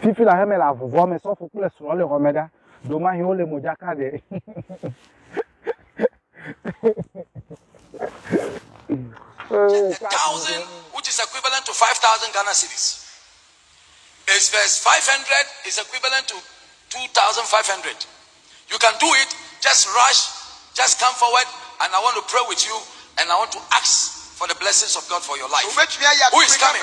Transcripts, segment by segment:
Fifi la heme le avuvɔ me, sɔfo kple srɔ̃ le xɔme ɖa, ɖomahi wo le modzaka ɖe. Thousand, which is equivalent to 5,000 Ghana cedis. Is verse 500 is equivalent to 2,500. You can do it, just rush, just come forward, and I want to pray with you, and I want to ask for the blessings of God for your life. Who is coming?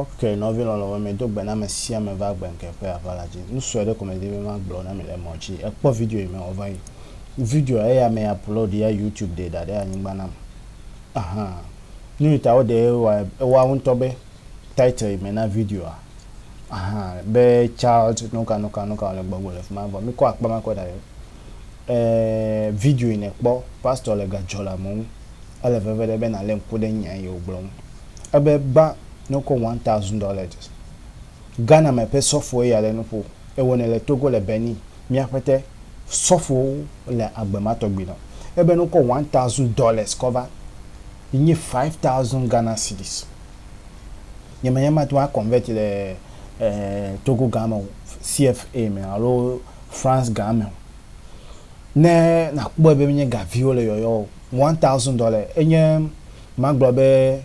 Ok nɔvi lɔlɔ̃wo me do gbe na ame sia ame va gbe ŋke ƒe aʋa la dzi. Nusue ɖe ko me di be ma gblɔ na mi le mɔ dzi. E kpɔ video yi me wɔ va yi. Video ya eya me upload ya youtube ɖe da ɖe anyigba nam. Aha. Nuyi ta wo ɖe wa ewa wo ŋutɔ be title yi me na video a. Aha. Be child nuka nuka nuka le gbɔgbo le fima vɔ mi kɔ akpa ma kɔ da ɖe. Eeee video yi nèkpɔ pastor le ga dzɔla me ŋu. Ele veve ɖe be nalé ŋku ɖe nya yi wògblɔ ŋu. Ebe gbã ne wokɔ one thousand dollars. Ghana me ƒe sɔfoe ya le nu ƒo. Ewɔnɛ le Togo le Benin. Mía ƒete sɔfowo le agbe ma tɔgbi nɔ. Ebe ne wokɔ one thousand dollars kɔ va yi nye five thousand Ghana cedis. Nye menye mate ŋu a convert le Togo gã me o, CFA me alo France gã me o. Ne nàkpɔe be menye ga viwo le yɔyɔ o, one thousand dollar enye magblɔ be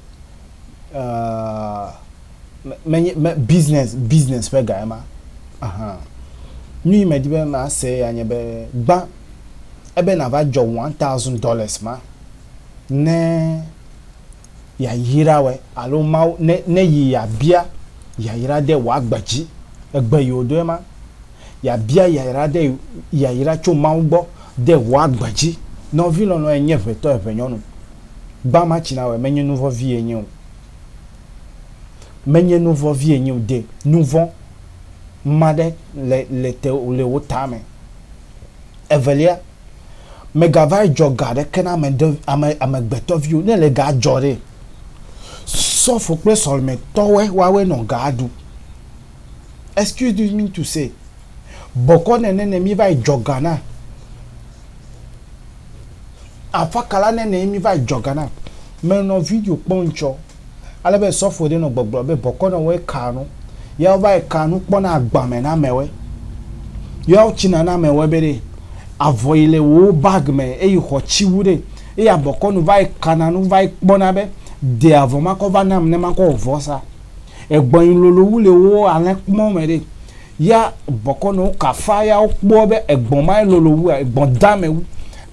menye business business ƒe ga ema. Aha. Nuyi medi be mase ya nye be gbã ebe nàva dzɔ one thousand dollars ma ne. yayraɔe alo Mawu ne ne yi yabia yayra de wòagbe dzi. Egbe yi wòdoe ma. Yabia yayra de yayra tso Mawu gbɔ de wòagbe dzi. Nɔvi lɔlɔ̃e nye ʋetɔ eʋenyɔnu. Gbã ma tsi nawɔe menye nuvɔ vie nye o. Menye nuvɔ vie nye o de nuvɔ ma ɖe le le te le wò tame. Evelia. Mègava dzɔ ga aɖeke na ame ɖe, ame, amegbetɔviwo, ne èle ga dzɔ ɖee, sɔfo kple sɔlemetɔwoe woawoe nɔ gaa ɖu. Excuse me mean to say, bɔkɔ nɛnɛ nɛ mí va yi dzɔ ga na, afakala nɛnɛ ye mí va yi dzɔ ga na. Menɔ video kpɔm tsɔ. Ale be sɔfoe ɖe nɔ gbɔgblɔ be bɔkɔ nɔ wɔe kaa nu. Yawo va yi kaa nu kpɔna agba me na amewoe. Yawo tsina na amewoe be ɖe avɔ yi le wò bag me eyi xɔ tsi wu ɖe eye abɔkɔ nu va yi kana nu va yi kpɔna be de avɔ ma kɔ va nam ne ma kɔ wɔ vɔsa. Egbɔn yi lolo wu le wo alẽ kpɔ me ɖe. Ya bɔkɔ nɔ wo kafa yawo kpɔ be egbɔn ma ye lolo wua egbɔn dame wu.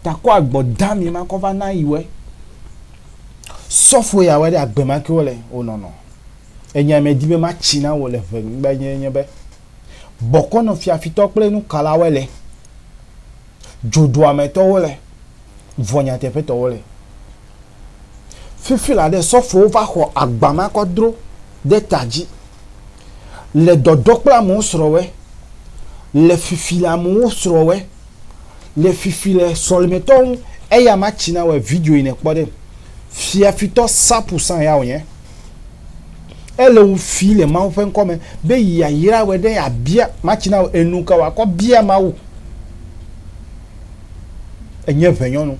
Ta kɔ agbɔ dame ma kɔ va na yiwoe. Sɔfo ya wɔe ɖe agbe ma ke wole wonɔnɔ. Enya medi be matsi na wò le ʋenyigba nyuie nye be, bɔkɔ nɔ fiafitɔ kple nukalawoe le, dzodoametɔwo le, vɔ nyateƒetɔwo le. Fifi la ɖe sɔfowo va xɔ agba ma kɔ dro ɖe ta dzi le dɔdɔ kple amewo srɔ̃wɔe, le fifi le amewo srɔ̃wɔe. le fifi le sɔlimetɔ ŋu eya ma tsi na wɔ video yi ne kpɔ ɖe fia fitɔ sapu san ya wònye ele wu fi le mawu ƒe ŋkɔ me be yi ayra wɔ ɖe abia ma tsi na wɔ enu ka wɔ akɔ bia mawu enye ʋe nyɔnu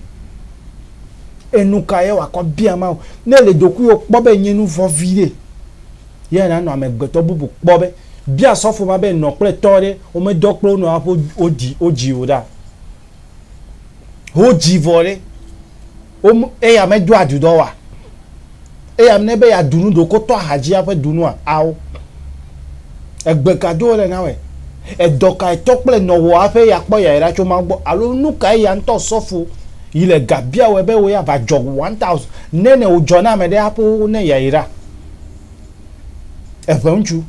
enu ka ye wɔ akɔ bia mawu ne le dokuiwo kpɔ be nye nu vɔ vi ɖe yɛ nanɔ amegbetɔ bubu kpɔ be Bia sɔfo ma be nɔ kple tɔ ɖe womedɔ kple wo nɔ aƒe wodi wodzi o ɖa. Wodzi vɔ ɖe wo eya medo adudɔ wa. Eya ne be ya dunu ɖoko tɔ ahadzi aƒe dunua ao. Egbe ka do wole na wɛ? Edɔ ka etɔ kple nɔ wɔ aƒe ya kpɔ ya ɖa tso Mawu gbɔ alo nu ka eya ŋutɔ sɔfo yi le ga bia wɛ be wo ya va dzɔ one thousand ne ne wo dzɔ na ame ɖe aƒe wo ne ya yi ɖa? Eŋe ŋutsu.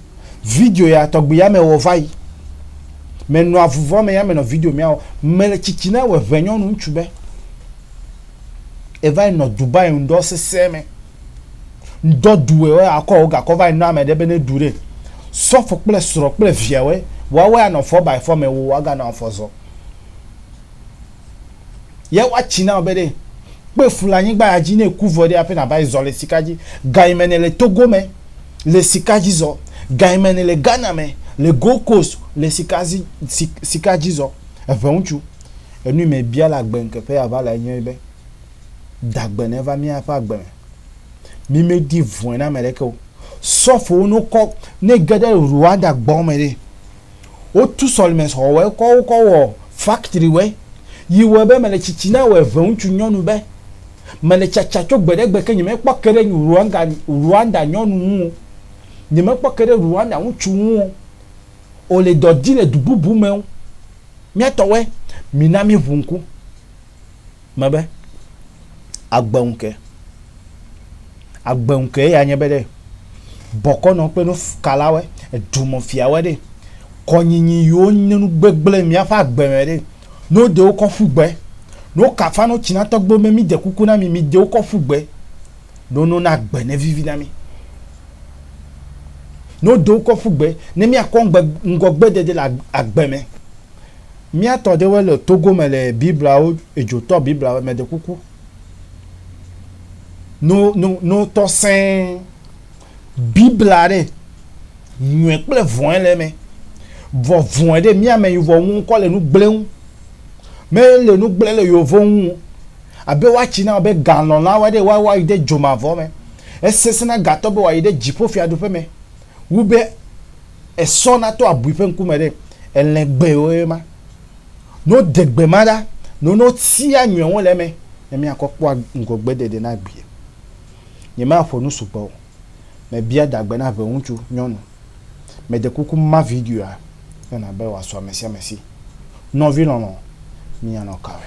Video ya tɔgbi ya me wɔ va yi. Me nɔ avuvɔ me ya me nɔ video mea wɔ. Me le tsitsi na wɔ eŋe nyɔnu ŋutsu be. Eva yi nɔ Dubai ŋdɔ sese me. Ŋdɔ du wɔ wɔ akɔ wo gakɔ va yi nɔ ame ɖe be ne du ɖe. Sɔfo kple srɔ kple via wɔ wɔ ya nɔ fɔ by fɔ me wo wa ga nɔ afɔ zɔ. Yɛ wa tsi nao be ɖe kpe fu le anyigba ya dzi ne eku vɔ ɖe aƒe na va yi zɔ le sika dzi. Ga yi me ne le Togo me le sika dzi zɔ. Ga yi me ne le Ghana me le Gold Coast le sika zi si sika dzi zɔ. Eŋɛ ŋutsu. Enu yi me bia le agbe ŋkeƒe ya va le nye be dagbe ne va mía ƒe agbe me. Mi me di vɔe na ame ɖeke o. Sɔfowo no kɔ ne ge ɖe Rwanda gbɔ me ɖe. Wotu sɔlimexɔwɔe kɔ wokɔ wɔ faktriwɔe yi wɔe be mele tsitsi na wɔ eve ŋutsu nyɔnu be, Mele tsatsa tso gbe ɖe gbe ke nyemekpɔ ke ɖe Ruanga Ruanda nyɔnu ŋu o, nyemekpɔ ke ɖe Ruanda ŋutsu ŋu o. O le dɔ di le du bubu me o. Mía tɔwɔe, mina míŋu ŋku. mebe, agbe ŋke. Agbe ŋke ya nye be ɖe bɔkɔnɔ kple nu kalawe, edumɔ fiawe ɖe kɔnyinyi yiwo nye nu gbegble mía ƒe agbe me ɖe no de wokɔ ƒu gbe. No kafa no tsina tɔgbe me mi de kuku na mi, mi de wokɔ ƒu gbe. No no na gbe ne vivi na mi. No de wokɔ ƒu gbe ne mi akɔ ŋgɔgbe dede le agbe me. Mía tɔ ɖewoe le Togo me le Biblawo edzo tɔ Biblawo me ɖe kuku. No no no tɔ sɛɛ Bibla ɖe nyɔɛ kple vɔɛ le me. Vɔ vɔɛ ɖe mía me yuvɔ ŋu kɔ le nu gblẽŋ. Me le nu gblẽ le yovɔ ŋu abe wa tsi na be galɔn la wɔ ɖe wa wa yi ɖe dzomavɔ me. Esesẽ na gatɔ be wa yi ɖe dziƒo fiaɖuƒe me. wu be esɔ nato abui ƒe ŋkume ɖe elẽ gbewoe ma. Ne wode gbe ma ɖa, ne wotia nyɔ̃wo le eme, ne míakɔ kpɔa ŋgɔgbeɖeɖe na agbee. Nyemaƒo nu sugbɔ o. Mebia dagbe na ʋeŋutsu nyɔnu. Meɖe kuku ma videoa yɔna be wòasu amesiamesi. Nɔvi lɔlɔ̃, mìanɔ kawe?